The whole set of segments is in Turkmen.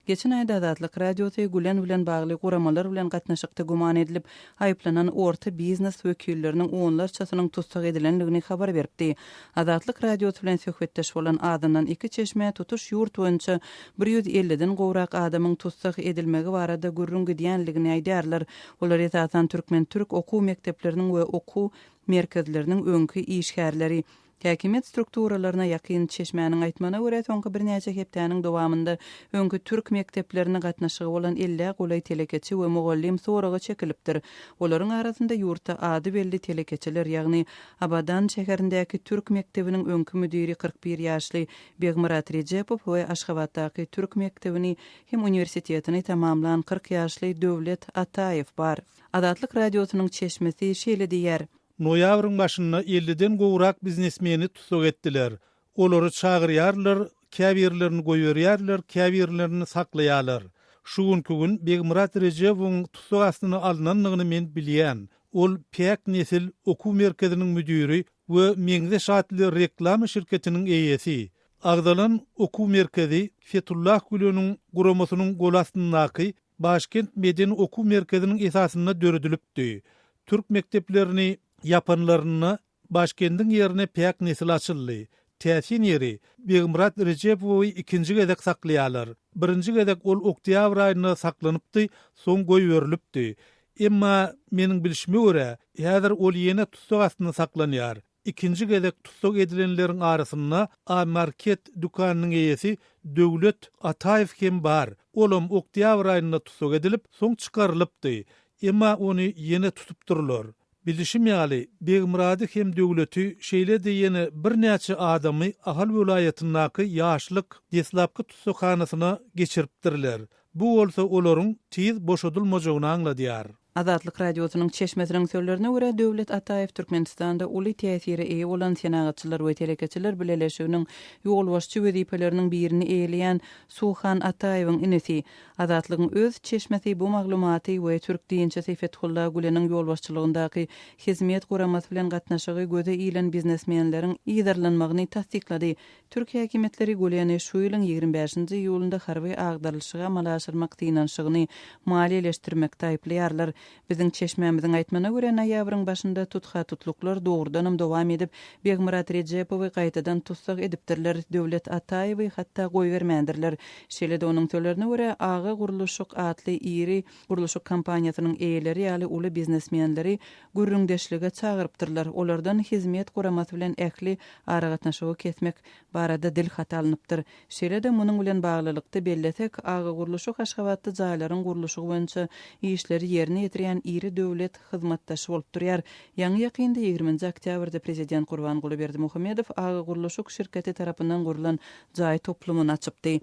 Geçen aýda Azatlyk Radiosy Gülen bilen bagly guramalar bilen gatnaşykda güman edilip, aýyplanan orta biznes wekilleriniň onlarçasynyň tussag edilendigini habar beripdi. Azatlyk Radiosy bilen söhbetdeş bolan azyndan iki çeşmä tutuş ýurt boýunça bir ýüz elliden gowrak adamyň tussag edilmegi barada gürrüň gidýänligini aýdýarlar. Olar esasan türkmen-türk okuw mekdepleriniň we okuw merkezleriniň öňki işgärleri. Häkimiýet strukturalaryna ýakyn çeşmäniň aýtmagyna görä, soňky birnäçe hepdäniň dowamynda öňki türk mekdeplerine gatnaşygy bolan ellä golaý telekeçi we mugallym soraga çekilipdir. Olaryň arasynda ýurtda ady belli telekeçiler, ýagny Abadan şäherindäki türk mekdebiniň öňki müdiri kyrk bir ýaşly Begmyrat Rejepow we Aşgabatdaky türk mekdebini hem uniwersitetini tamamlan kyrk ýaşly Döwlet Ataýew bar. Azatlyk Radiosynyň çeşmesi şeýle diýýär. Noýabryň başynda elliden gowrak biznesmeni tussag etdiler. Olary çagyrýarlar, käbirlerini goýberýärler, käbirlerini saklaýarlar. Şu günki gün Begmyrat Rejebowyň tussag astyna alnandygyny men bilýän. Ol Päk nesil okuw merkeziniň müdiri we Meňzeş atly reklama şirketiniň eýesi. Agzalan okuw merkezi Fetullah Güleniň guramasynyň golastyndaky Başkent medeni okuw merkeziniň esasynda döredilipdi. Türk mekdeplerini ýapanlarynda Başkendiň ýerine Päk nesil açyldy. Täsin ýeri, Begmyrat Rejepowy ikinji gezek saklaýarlar. Birinji gezek ol oktýabr aýynda saklanypdy, soň goýberilipdi. Emma, meniň bilşime görä, häzir ol ýene tussag astynda saklanýar. Ikinji gezek tussag edilenleriň arasynda A-market dükanynyň eýesi Döwlet Ataýew hem bar. Olam oktýabr aýynda tussag edilip, soň çykarylypdy. Emma ony ýene tutup durlar. Bilişim ýaly, Begmyrady hem Döwleti, şeýle-de ýene birnäçe adamy Ahal welaýatyndaky Ýaşlyk deslapky tussaghanasyna geçiripdirler. Bu bolsa olaryň tiz boşadylmajagyny aňladýar. Azatlyk Radiosynyň çeşmesiniň sözlerine görä, Döwlet Ataýew Türkmenistanda uly täsire eýe bolan Senagatçylar we telekeçiler bileleşiginiň ýolbaşçy wezipeleriniň birini eýeleýän Suhan Ataýewiň inisi. Azatlygyň öz çeşmesi bu maglumaty we türk dynçysy Fethulla Güleniň ýolbaşçylygyndaky Hizmet guramasy bilen gatnaşygy göze ilen biznesmenleriň yzarlanmagyny tassyklady. Türk häkimiýetleri Güleni şu ýylyň ýigrimi bäşinji iýulynda harby agdarylyşygy amala aşyrmak synanyşygyny maliýeleşdirmekde aýyplaýarlar. Biziň çeşmämiziň aýtmana görä, noýabryň başynda tutha-tutluklar dogrudanam dowam edip, Begmyrat Rejepowy gaýtadan tussag edipdirler, Döwlet Ataýewi hatda goýbermändirler. Şeýle-de onuň sözlerine görä, Aga gurluşyk atly iri, Gurluşyk kompaniýasynyň eýeleri ýaly uly biznesmenleri gürrüňdeşlige çagyrypdyrlar, olardan Hizmet guramasy bilen ähli aragatnaşygy kesmek barada dilhat alnypdyr. Şeýle-de munuň bilen baglylykda bellesek, Agagurluşyk Aşgabatda jaýlaryň gurluşygy boýunça işleri ýerine ýetirýän iri döwlet hyzmatdaşy bolup durýar. Ýaňy-ýakynda ýigriminji oktýabrda Prezident Gurbanguly Berdimuhamedow Agagurluşyk şirketi tarapyndan gurlan jaý toplumyny açypdy.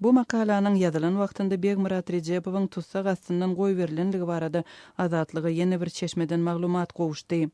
Bu makalanyň ýazylan wagtynda Begmyrat Rejepowyň tussag astyndan goýberilendigi barada Azatlyga ýene bir çeşmeden maglumat gowuşdy.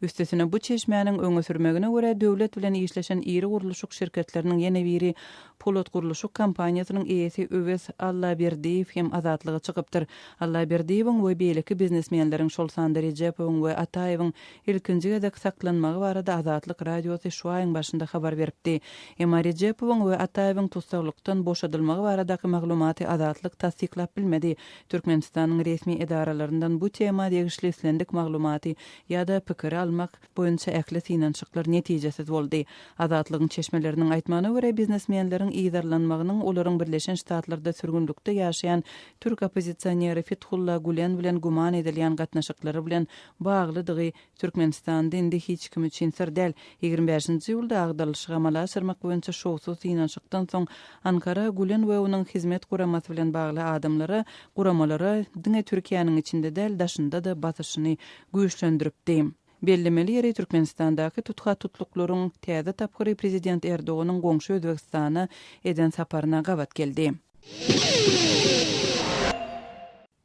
Üstesine bu çeşmäniň öňe sürmegine görä döwlet bilen işleşen iri gurluşyk şirketleriniň ýene biri Polatgurluşyk kompaniýasynyň eýesi Öwez Allaberdiýew hem Azatlyga çykypdyr. Allaberdiýewiň we beýleki biznesmenleriň şol sanda Rejepowyň we Ataýewiň ilkinji gezek saklanmagy barada Azatlyk Radiosy şu aýyň başynda habar beripdi. Emma Rejepowyň we Ataýewiň tussaglykdan boşadylmagy baradaky maglumaty Azatlyk tassyklap bilmedi. Türkmenistanyň resmi edaralaryndan bu tema degişli islendik maglumaty ýa-da pikiri almak boýunça ähli synanyşyklar netijesiz boldy. Azatlygyň çeşmeleriniň aýtmagyna görä, biznesmenleriň yzarlanmagynyň olaryň Birleşen Ştatlarda sürgünlikde ýaşaýan türk oppozisioneri Fithulla Gulen bilen güman edilýän gatnaşyklary bilen baglydygy Türkmenistanda indi hiç kim üçin syr däl. Ýigrimi bäşinji iýulda agdarylyşygy amala aşyrmak boýunça şowsuz synanyşykdan soň, Ankara Gülen we onuň Hizmet guramasy bilen bagly adamlara, guramalara diňe Türkiýäniň içinde däl, daşynda-da basyşyny güýçlendiripdi. Bellemeli ýeri, Türkmenistandaky tutha-tutluklaryň täze tapgyry Prezident Erdoganyň goňşy Özbegistana eden saparyna gabat geldi.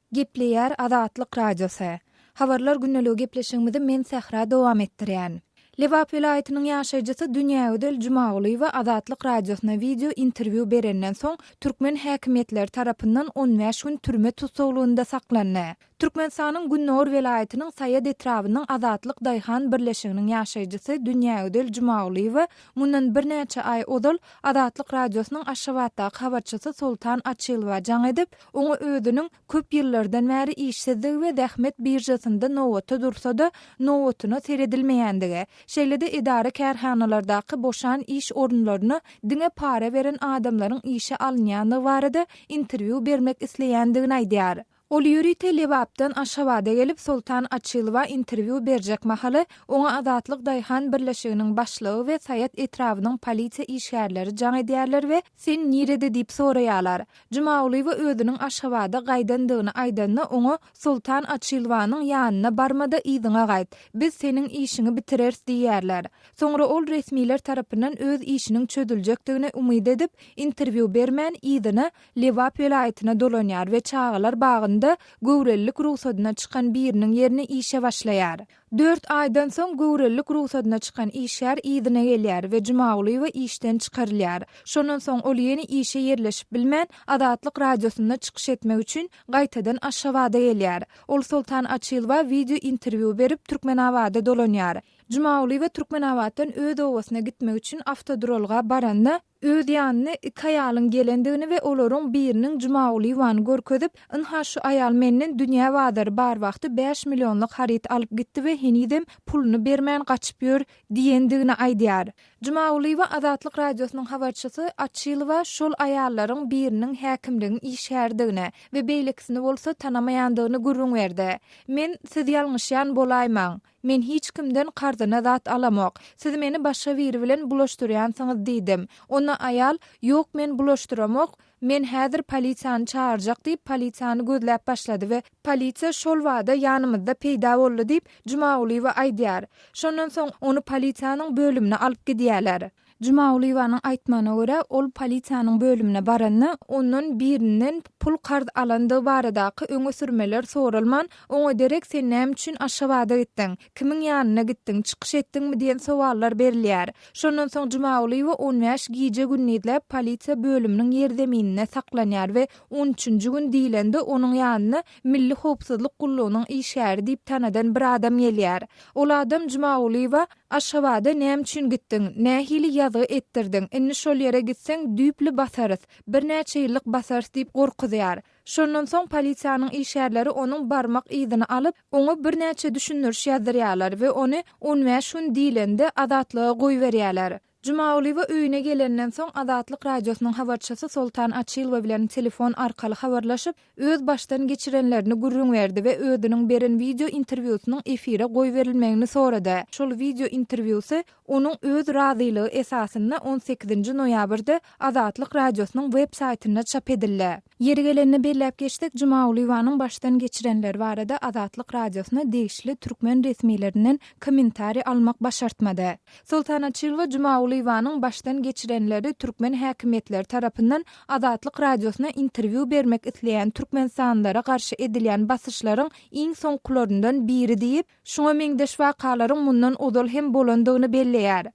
Gepleýär Azatlyk Radiosy. Habarlar gündeligi gepleşigimizi men Sähra dowam etdirýän. Lebap welaýatynyň ýaşaýjysy Dünýägözel Jumagulyýewa Azatlyk Radiosyna wideo interwýu berenden soň, türkmen häkimiýetleri tarapyndan on bäş gün türme tussaglygynda saklandy. Türkmenistanyň gündogar welaýatynyň Saýat etrabynyň Azatlyk daýhan birleşiginiň ýaşaýjysy Dünýägözel Jumagulyýewa mundan birnäçe aý ozal Azatlyk Radiosynyň Aşgabatdaky habarçysy Soltan Açylowa jaň edip, Oňa özüniň köp ýyllardan bäri işsizligi we zähmet biržasynda nobata dursa-da, nobatyna seredilmeýändigi, şeýle-de edara-kärhanalardaky boşan iş orunlaryna diňe para beren adamlaryň işe alynýandygy barada interwýu bermek isleýändigini aýdýar. Ol ýörite Lebapdan Aşgabada gelip, Soltan Açylowa interwýu berjek mahaly, oňa Azatlyk daýhan birleşiginiň başlygy we Saýat etrabynyň polisiýa işgärleri jaň edýärler we Sen nirede diýip soraýarlar. Jumagulyýewa özüniň Aşgabada gaýdandygyny aýdanda oňa Soltan Açilwanyň ýanyna barma-da yzyňa gaýt, biz seniň işiňi bitireris diýýärler. Soňra ol resmiler tarapyndan öz işiniň çözüljekdigine umyt edip, interwýu bermän, yzyna, Lebap welaýatyna dolanýar we çagalar bagynda göwrelilik rugsadyna çykan biriniň ýerine işe başlaýar. Dört aýdan soň göwrelilik rugsadyna çykan işgär yzyna gelýär we Jumagulyýewa işden çykarylýar. Şondan soň ol ýene işe ýerleşip bilmän, Azatlyk Radiosynda çykyş etmek üçin, gaýtadan Aşgabada gelýär. Ol Soltan Açylowa wideo interwýu berip, Türkmenabada dolanýar. Jumagulyýewa Türkmenabatdan öz obasyna gitmek üçin awtoduralga baranda, Öz ýanyna iki aýalyň gelendigini we olaryň biriniň Jumagulyýewany görkezip, Ynha, şu aýal menden dünýä bazary bar wagty bäş millionlyk haryt alyp gitdi we henizem puluny bermän gaçyp ýör diýendigini aýdýar. Jumagulyýewa Azatlyk Radiosynyň habarçysy Açylowa şol aýallaryň biriniň häkimligiň işgäridigini we beýlekisini bolsa tanamaýandygyny gürrüň berdi. Men, Siz ýalňyşýan bolaýmaň. Men hiç kimden karzyna zat alamok. Siz meni başga biri bilen bulaşdyrýansyňyz diýdim. Onda aýal, Ýok, men bulaşdyramok, men häzir polisiýany çagyrjak diýip, polisiýany gözläp başlady we polisiýa şol bada ýanymyzda peýda boldy diýip, Jumagulyýewa aýdýar. Şondan soň, ony polisiýanyň bölümine alyp gidýärler. Jumagulyýewanyň aýtmagyna görä, ol polisiýanyň bölümine baranda, ondan birinden pul karz alandygy baradaky öňe sürmeler soralman, oňa derek sen näme üçin Aşgabada gitdiň, kimiň ýanyna gitdiň, çykyş etdiňmi diýen sowallar berilýär. Şondan soň Jumagulyýewa on bäş gije-gündizläp polisiýa bölüminiň ýerzemininde saklanýar we on üçünji gün diýlende onuň ýanyna Milli howpsuzlyk gullugynyň işgäri diýip tanadan bir adam gelýär. Ol adam Jumagulyýewa, Aşgabada näme üçin gitdiň? Nähili ýazgy etdirdiň? Indi şol ýere gitseň, düýpli basarys. Birnäçe ýyllyk basarys diýip gorkuzýar. Şondan soň polisiýanyň işgärleri onuň barmak yzyny alyp, oňa birnäçe düşündiriş ýazdyrýarlar we ony on bäş gün diýlende azatlyga goýberýärler. Jumagulyýewa öýüne gelenden soň, Azatlyk Radiosynyň habarçysy Soltan Açylowa bilen telefon arkaly habarlaşyp, öz başdan geçirenlerini gürrüň berdi we özüniň beren wideo interwýusynyň efire goýberilmegini sorady. Şol wideo interwýusy onuň öz razylygy esasynda on sekizinji noýabrda Azatlyk Radiosynyň web-saýtynda çap edildi. Ýeri gelende belläp geçsek, Jumagulyýewanyň başdan geçirenleri barada Azatlyk Radiosyna degişli türkmen resmilerinden kommentariý almak başartmady. Soltan Açylowa Jumagulyýewanyň başdan geçirenleri türkmen häkimiýetleri tarapyndan Azatlyk Radiosyna interwýu bermek isleýän türkmenistanlylara garşy edilýän basyşlaryň iň soňkularyndan biri diýip, Şuňa meňzeş wakalaryň mundan ozal hem bolandygyny belleýär.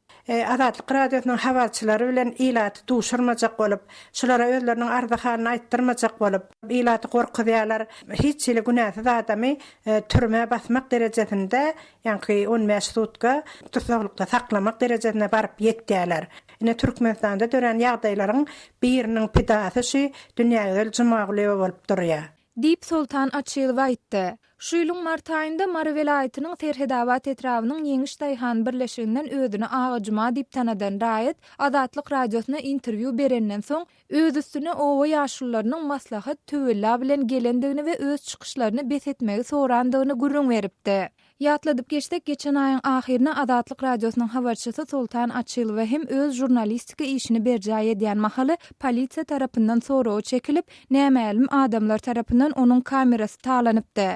Azatlyk Radiosynyň habarçylary bilen ilaty duşurmajak bolup, şulara özleriniň arzy-halyny aýtdyrmajak bolup, ilaty gorkuzýarlar. Hiç hili günäsiz adamy türmä basmak derejesinde, ýaňky on bäş sutka tussaglykda saklamak derejesine baryp ýetýärler. Ine, Türkmenistanda dörän ýagdaýlaryň biriniň pidasy şu Dünýägözel Jumagulyýewa bolup durýar. Diýip, Soltan Açylow aýtdy. Şu ýylyň mart aýynda Mary welaýatynyň Serhedabat etrabynyň Ýeňiş daýhan birleşiginden özüni Agajuma diýip tanadan raýat Azatlyk Radiosyna interwýu berenden soň, öz üstüne oba ýaşulularynyň maslahat, töwella bilen gelendigini we öz çykyşlaryny bes etmegi sorandygyny gürrüň beripdi. Ýatladyp geçsek, geçen aýyň ahyryna Azatlyk Radiosynyň habarçysy Soltan Açylowa hem öz žurnalistika işini berjaý edýän mahaly polisiýa tarapyndan soraga çekilip, nämälim adamlar tarapyndan onuň kamerasy talanypdy.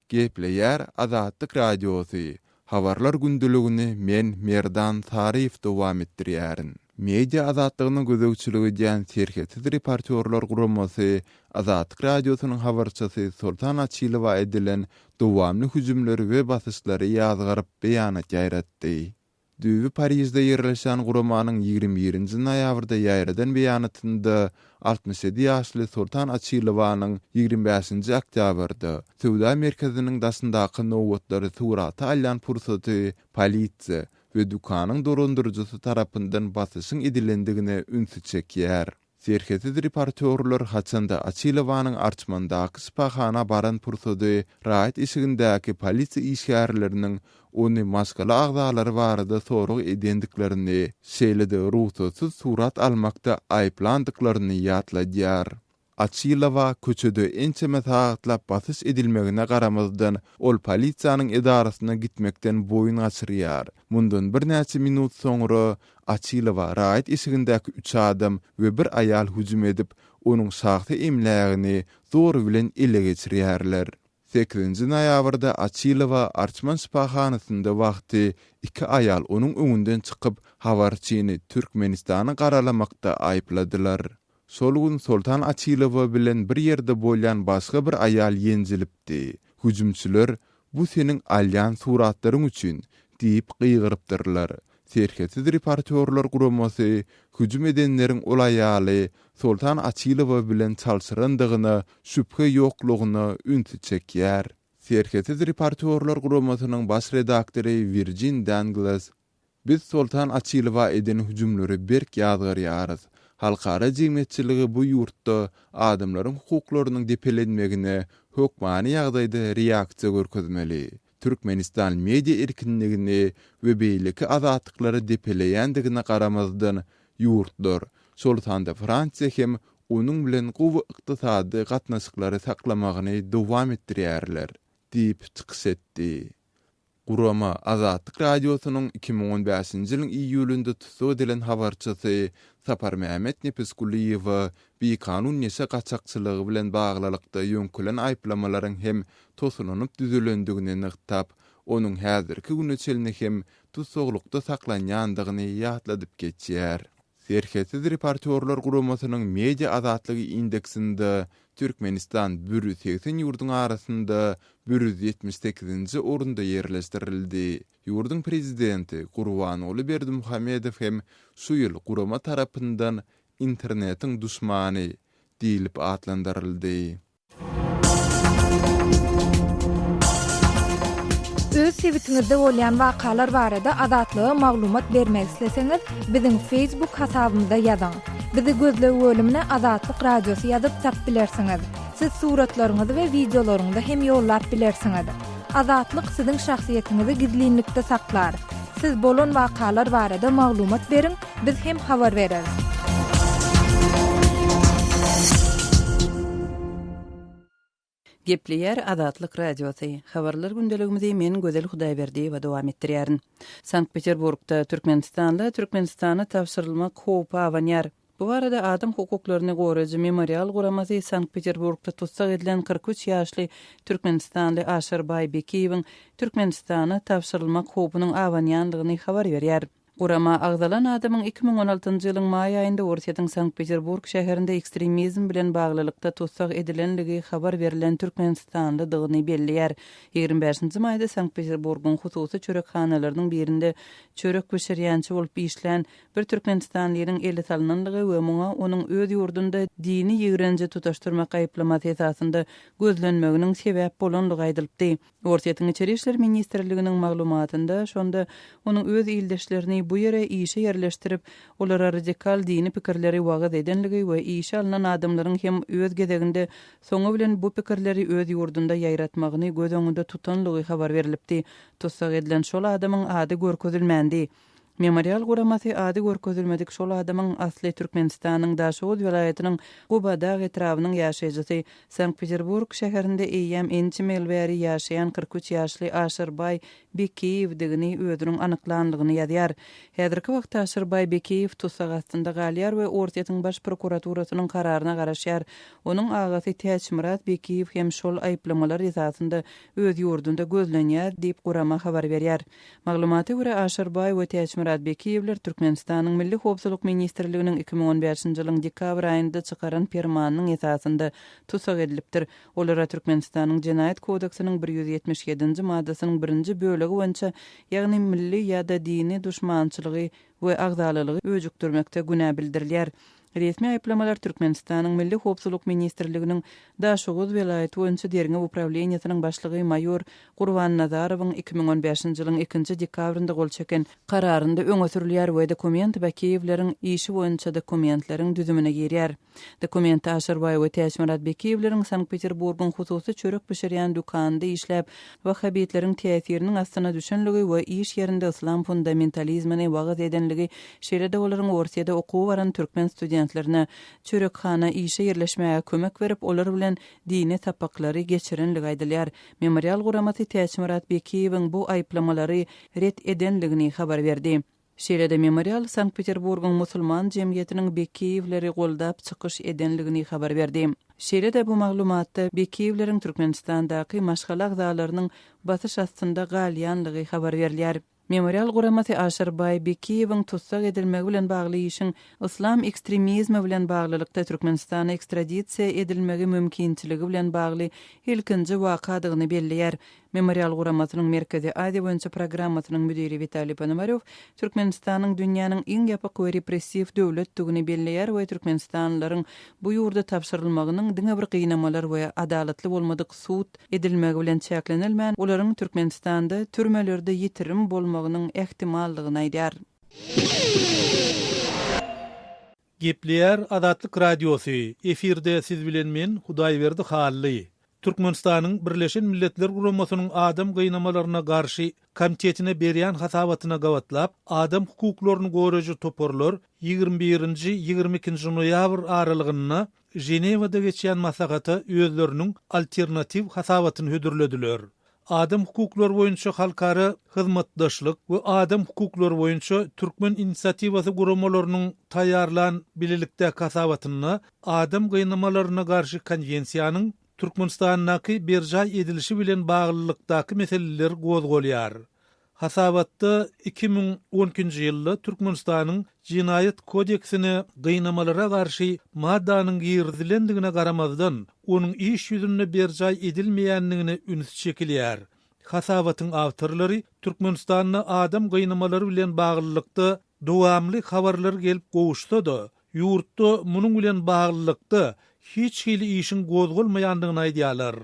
Gepleýär Azatlyk Radiosy. Habarlar gündeligini men Merdan Saryýew dowam etdirýärin. Media azatlygyna gözegçilik edýän Serhetsiz reportýorlar guramasy Azatlyk Radiosynyň habarçysy Soltan Açylowa edilen dowamly hüjümleri we basyşlary ýazgaryp beýanat ýaýratdy. Düýbi Parižde ýerleşen guramanyň ýigrimi birinji noýabrda ýaýradan beýanatynda Altmyş ýedi ýaşly Soltan Açilowanyň ýigrimi bäşinji oktýabrda söwda merkeziniň daşyndaky nobatlary surata alýan pursady polisiýa we dükanyň dolandyryjysy tarapyndan basyşyň edilendigine ünsi çekýär. Serhetsiz reportýorlar haçanda Açilowanyň Arçmandaky şypahana baran pursady raýat eşigindäki polisiýa işgärleriniň ony maşgala agzalary barada sorag edendiklerini, şeýle-de rugsatsyz surat almakda aýyplandyklaryny ýatladýar. Açylowa köçede ençeme sagatlap basyş edilmegine garamazdan, ol polisiýanyň edarasyna gitmekden boýun gaçyrýar. Mundan birnäçe minut soňra Açylowa raýat eşigindäki üç adam we bir aýal hüjüm edip, onuň şahsy emlägini zor bilen ele geçirýärler. Sekizinji noýabrda Açylowa Arçman şypahanasynda wagty iki aýal onuň öňünden çykyp, habarçyny Türkmenistany garalamakda aýypladylar. Şol gün Soltan Açylowa bilen bir ýerde bolýan başga bir aýal ýenjilipdi. Hüjümçiler, Bu seniň alýan suratlaryň üçin! diýip gygyrypdyrlar. Serhetsiz reportýorlar guramasy hüjüm edenleriň ol aýaly Soltan Açylowa bilen çalşyrandygyna şübhe ýoklugyna ünsi çekýär. Serhetsiz reportýorlar guramasynyň baş redaktory Wirjin Danglas, Biz Soltan Açylowa eden hüjümleri berk ýazgarýarys. Halkara jemgyýetçiligi bu ýurtda adamlaryň hukuklarynyň depelenmegine hökmany ýagdaýda reaksiýa görkezmeli. Türkmenistan media erkinligini we beýleki azatlyklary depeleýändigine garamazdan, ýurtlar, şol sanda Fransiýa hem onuň bilen gowy ykdysady gatnaşyklary saklamagyny dowam etdirýärler diýip çykyş etdi. Gurama Azatlyk Radiosynyň iki müň on bäşinji ýylyň iýulynda tussag edilen habarçysy Saparmämmet Nepisgulyýewa bikanun neşe gaçakçylygy bilen baglylykda ýöňkelen aýyplamalaryň hem tosulanyp düzülendigini nygtap, onuň häzirki güne çenli hem tussaglykda saklanýandygyny ýatladyp geçýär. Serhetsiz reportýorlar guramasynyň Media azatlygy indeksinde Türkmenistan bir ýüz segsen ýurduň arasynda bir ýüz ýetmiş sekizinji orunda ýerleşdirildi. Ýurduň prezidenti Gurbanguly Berdimuhamedow hem şu ýyl gurama tarapyndan Internetiň duşmany diýlip atlandyryldy. Öz sebitiňizde bolýan wakalar barada Azatlyga maglumat bermek isleseňiz, biziň Facebook hasabymyza ýazyň. Bizi gözleg bölümine Azatlyk Radiosy ýazyp tap bilersiňiz. Siz suratlaryňyzy we wideolaryňyzy hem ýollap bilersiňiz. Azatlyk siziň şahsyýetiňizi gizlinlikde saklar. Siz bolan wakalar barada maglumat beriň, Biz hem habar bereris. Gepleýär Azatlyk Radiosy. Habarlar gündeligimizi men Gözel Hudaýberdiýewa dowam etdirýärin. Sankt-Peterburgda türkmenistanly Türkmenistana tabşyrylmak howpy abanýar. Bu barada adam hukuklaryny goraýjy Memorial guramasy Sankt-Peterburgda tussag edilen kyrk üç ýaşly türkmenistanly Aşyrbaý Bekiýewiň Türkmenistana tabşyrylmak howpunyň abanýandygyny habar berýär. Gurama agzalan adamyň iki müň on altynjy ýylyň maý aýynda Orsýetiň Sankt-Peterburg şäherinde ekstremizm bilen baglylykda tussag edilenligi habar berlen türkmenistanlydygyny belleýär. Ýigrimi bäşinji maýda Sankt-Peterburgyň hususy çörekhanalarynyň birinde çörek bişirýänçi bolup işlän bir türkmenistanlynyň ele salnanlygy we muňa onuň öz ýurdunda dini ýigrenje tutaşdyrmak aýyplamasy esasynda gözlenmeginiň sebäp bolanlygy aýdylypdy. Orsýetiň Içeri işler ministrliginiň maglumatynda, şonda onuň öz ildeşlerini bu ýere işe ýerleşdirip, olara radikal dini pikirleri wagyz edenligi we işe alnan adamlaryň hem öz gezeginde soňy bilen bu pikirleri öz ýurdunda ýaýratmagyny göz öňünde tutanlygy habar berlipdi, tussag edilen şol adamyň ady görkezilmändi. Memorial guramasy ady görkezilmedik şol adamyň asly Türkmenistanyň Daşoguz welaýatynyň Gubadag etrabynyň ýaşaýjysy, Sankt-Peterburg şäherinde eýýäm ençeme ýyl bäri ýaşaýan kyrk üç ýaşly Aşyrbaý Bekiýewdigini özüniň anyklandygyny ýazýar. Häzirki wagtda Aşyrbaý Bekiýew tussag astynda galýar we Orsýetiň Baş prokuraturasynyň kararyna garaşýar. Onuň agasy Täçmyrat Bekiýew hem şol aýyplamalar esasynda öz ýurdunda gözlenýär diýip gurama habar berýär. Maglumata görä, Aşyr baý we Täçmyrat Bekiýewler Türkmenistanyň Milli howpsuzlyk ministrliginiň iki müň on bäşinji ýylyň dekabr aýynda çykaran permanynyň esasynda tussag edilipdir. Olara Türkmenistanyň Jenaýat kodeksiniň bir ýüz ýetmiş ýedinji maddasynyň birinji bölegi boýunça, ýagny milli ýa-da dini duşmançylygy we agzalalygy öjükdirmekde günä bildirilýär. Resmi aýyplamalar Türkmenistanyň Milli howpsuzlyk ministrliginiň Daşoguz welaýaty boýunça derňew uprawleniýesiniň başlygy maýor Gurban Nazarowyň iki müň on bäşinji ýylyň ikinji dekabrynda gol çeken kararynda öňe sürülýär we dokument Bakiýewleriň işi boýunça dokumentleriň düzümine girýär. Dokument Aşyrbaý we Täçmyrat Bekiýewleriň Sankt-Peterburgyň hususy çörek bişirýän dükanynda işläp, wahhabitleriň täsiriniň astyna düşenligi we iş ýerinde yslam fundamentalizmini wagyz edenligi, şeýle-de olaryň Orsyýada okuwa baran türkmen studentlerine çörekhana işe ýerleşmäge kömek berip, olar bilen dini sapaklary geçirenligi aýdylýar. Memorial guramasy Täçmyrat Bekiýewiň bu aýyplamalary ret edenligini habar berdi. Şeýle-de Memorial Sankt-Peterburgyň musulman jemgyýetiniň Bekiýewleri goldap çykyş edenligini habar berdi. Şeýle-de bu maglumatda Bekiýewleriň Türkmenistandaky maşgala agzalarynyň basyş astynda galýanlygy habar berilýär. Memorial guramasy Aşyrbaý Bekiýewiň tussag edilmegi bilen bagly işiň yslam ekstremizmi bilen baglylykda Türkmenistana ekstradisiýa edilmegi mümkinçiligi bilen bagly ilkinji wakadygyny belleýär Memorial guramasynyň Merkezi Aziýa boýunça programmasynyň müdiri Witaliý Ponomarýow Türkmenistanyň dünýäniň iň ýapyk we repressiw döwletdigini belleýär we türkmenistanlylaryň bu ýurda tabşyrylmagynyň diňe bir gynamalar we adalatly bolmadyk sud edilmegi bilen çäklenilmän, olaryň Türkmenistanda türmelerde ýitirim bolmagynyň ähtimaldygyny aýdýar. Gepleýär Azatlyk Radiosy, efirde siz bilen men, Hudaýberdi Hally. Türkmenistanyň Birleşen Milletler Guramasynyň Adam gynamalaryna garşy Komtetine berýän hasabatyna gabatlap, adam hukuklaryny goreji toparlar ýigrimi birinji, ýigrimi ikinji noýabr aralygynda Ženewada geçýän maslahata özleriniň alternatiw hasabatyny hödürlediler. Adam hukuklary boýunça halkara hyzmatdaşlyk we adam hukuklary boýunça türkmen inisiatiwasy guramalarynyň taýýarlan bilelikdäki hasabatynda Adam gynamalaryna garşy konwensiýanyň Türkmenistandaky berjaý edilişi bilen baglylykdaky meseleler gozgalýar. Hasabatda iki müň on ikinji ýylda Türkmenistanyň Jenaýat kodeksine gynamalara garşy maddanyň girizilendigine garamazdan, onuň iş ýüzünde berjaý edilmeýändigine üns çekilýär. Hasabatyň awtorlary Türkmenistanda adam gynamalary bilen baglylykda dowamly habarlar gelip gowuşsa-da, ýurtda munuň bilen baglylykda hiç hili işiň gozgalmaýandygyny aýdýarlar.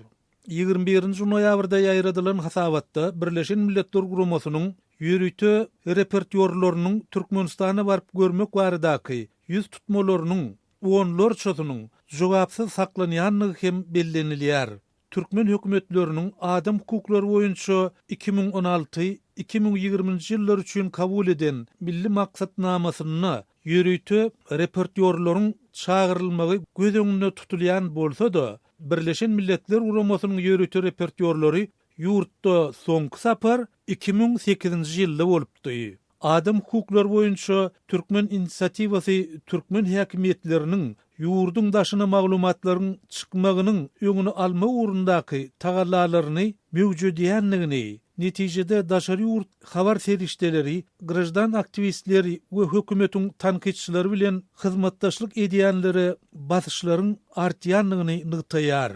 Ýigrimi birinji noýabrda ýaýradylan hasabatda Birleşen Milletler Guramasynyň ýörite reportýorlarynyň Türkmenistana baryp görmek baradaky ýüz tutmalarynyň onlarçasynyň jogapsyz saklanýandygy hem bellenilýär. Türkmen hökümetleriniň adam hukuklary boýunça iki müň on alty, iki müň ýigriminji ýyllar üçin kabul eden Milli maksatnamasynda Ýörite reportýorlaryň çagyrylmagy göz öňünde tutulýan bolsa-da, Birleşen Milletler Guramasynyň ýörite reportýorlary ýurtda soňky sapar iki müň sekizinji ýylda bolupdy. Adam hukuklary boýunça türkmen inisiatiwasy türkmen häkimiýetleriniň ýurduň daşyna maglumatlaryň çykmagynyň öňüni almak ugrundaky tagallalaryny möwjedýändigini, netijede daşary ýurt habar serişdeleri graždan aktiwistleri we hökümetiň tankytçylary bilen hyzmatdaşlyk edýänlere basyşlaryň artýandygyny nygtaýar.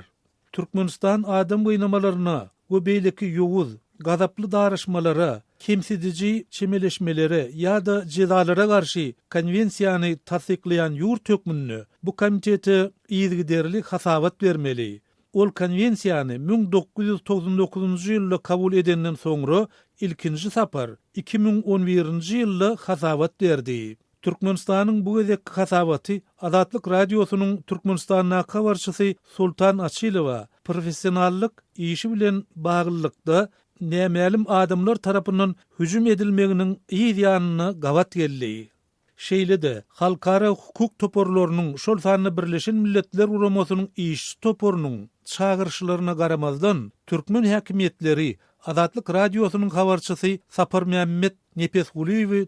Türkmenistan adam gynamalaryna we beýleki ýowuz, gazaply daraşmalara, kemsidiji çemeleşmelere ýa-da jezalara garşy Konwensiýany tassyklaýan ýurt hökmünde bu komitete yzygiderli hasabat bermeli. Ol Konwensiýany müň dokuz ýüz togsan dokuzynjy ýylda kabul edenden soňra ilkinji sapar iki müň on birinji ýylda hasabat berdi. Türkmenistanyň bu gezekki hasabaty Azatlyk Radiosynyň Türkmenistandaky habarçysy Sultan Açylowa professionallyk işi bilen baglylykda nämälim adamlar tarapyndan hüjüm edilmeginiň yz ýanyna gabat geldi. Şeýle-de, halkara hukuk toparlarynyň, şol sanda Birleşen Milletler Guramasynyň işçi toparynyň çagyryşlaryna garamazdan, türkmen häkimiýetleri Azatlyk Radiosynyň habarçysy Saparmämmet Nepesgulyýewi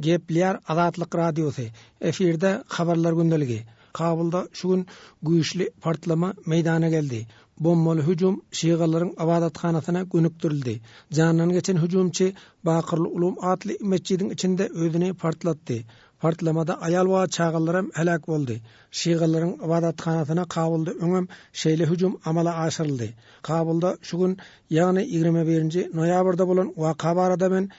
Gepleýär Azatlyk Radiosy, efirde Habarlar gündeligi. Kabulda şu gün güýçli partlama meýdana geldi. Bombaly hüjüm şygalaryň ybadathanasyna gönükdirildi. Jandan geçen hüjümçi Bakyrly Ulum atly metjidiň içinde özüni partlatdy. Partlamada aýal we çagalaram heläk boldy. Şygalaryň ybadathanasyna Kabulda öňem şeýle hüjüm amala aşyryldy. Kabulda şu gün, ýagny ýigrimi birinji noýabrda bolan waka barada men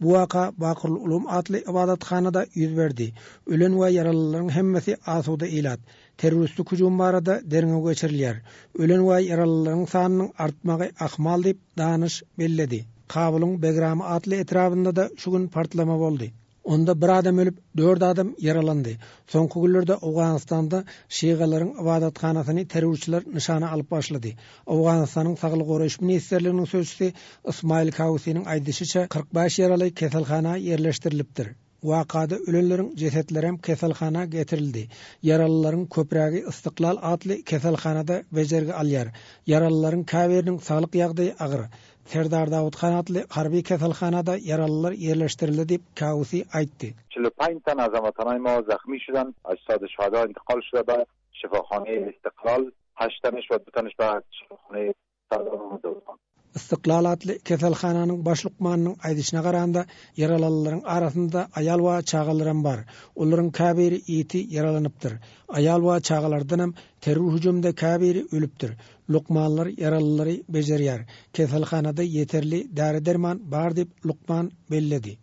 Bu waka Bakrul Ulum atly ybadathanada ýüz berdi. Ölen we ýaralylaryň hemmesi asuda ilat. Terroristlik hüjüm barada derňew geçirilýär. Ölen we ýaralylaryň sanynyň artmagy ahmal diýip, Danyş belledi. Kabulyň Begrami atly etrabynda-da şu gün partlama boldy. Onda bir adam ölüp, dört adam ýaralandy. Soňky günlerde Owganystanda şygalaryň ybadathanasyny terrorçylar nyşana alyp başlady. Owganystanyň Saglygy goraýyş ministrliginiň sözçüsi Ysmaýyl Kausiniň aýdyşyça, kyrk bäş ýaraly keselhana ýerleşdirilipdir. Wakada ölenleriň jesetlerem keselhana getirildi. Ýaralylaryň köprägi Istiklal atly keselhanada bejergi alýar. Ýaralylaryň käbiriniň saglyk ýagdaýy agyr. Serdar Dawut han atly harby keselhanada ýaralylar ýerleşdirildi diýip, Kausi aýtdy. Çilipintan Azamatan Aýmowa zahmi şudan Aşsady Şada intikal şurada Şypahany Ystiklal, Haçtanyş we Butanyş bagyrçy şypahany Sardar Mamedowdan. Ystiklal atly keselhananyň baş lukmanynyň aýdyşyna garanda, ýaralalylaryň arasynda aýal we çagalaram bar. Olaryň käbiri ýiti ýaralanypdyr. Aýal we çagalardanam terror hüjüminde käbiri ölüpdir. Lukmanlar ýaralylary bejerýär. Keselhanada ýeterli däri-derman bar diýip, lukman belledi.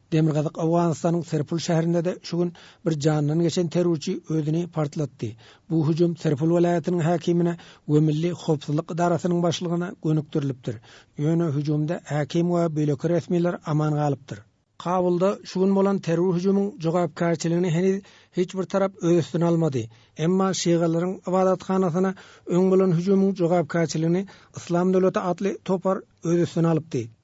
Demirgazyk Owganystanyň Serpul şäherinde-de şu gün bir jandan geçen terrorçy özüni partlatdy. Bu hüjüm Serpul welaýatynyň häkimine we Milli howpsuzlyk edarasynyň başlygyna gönükdirilipdir. Ýöne hüjümde häkim we beýleki resmiler aman galypdyr. Kabulda şu gün bolan terror hüjümiň jogapkärçiligini heniz hiç bir tarap öz üstüne almady. Emma şygalaryň ybadathanasyna öň bolan hüjümiň jogapkärçiligini Yslam döwleti atly topar öz üstüne alypdy.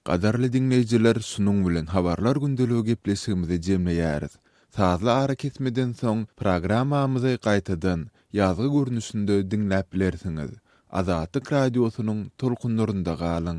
Gadyrly diňleýjiler şunuň bilen habarlar gündeligi gepleşigimizi jemleýäris. Sazly arakesmeden soň programmamyzy gaýtadan ýazgy görnüşinde diňläp bilersiňiz. Azatlyk Radiosynyň tolkunlarynda galyň.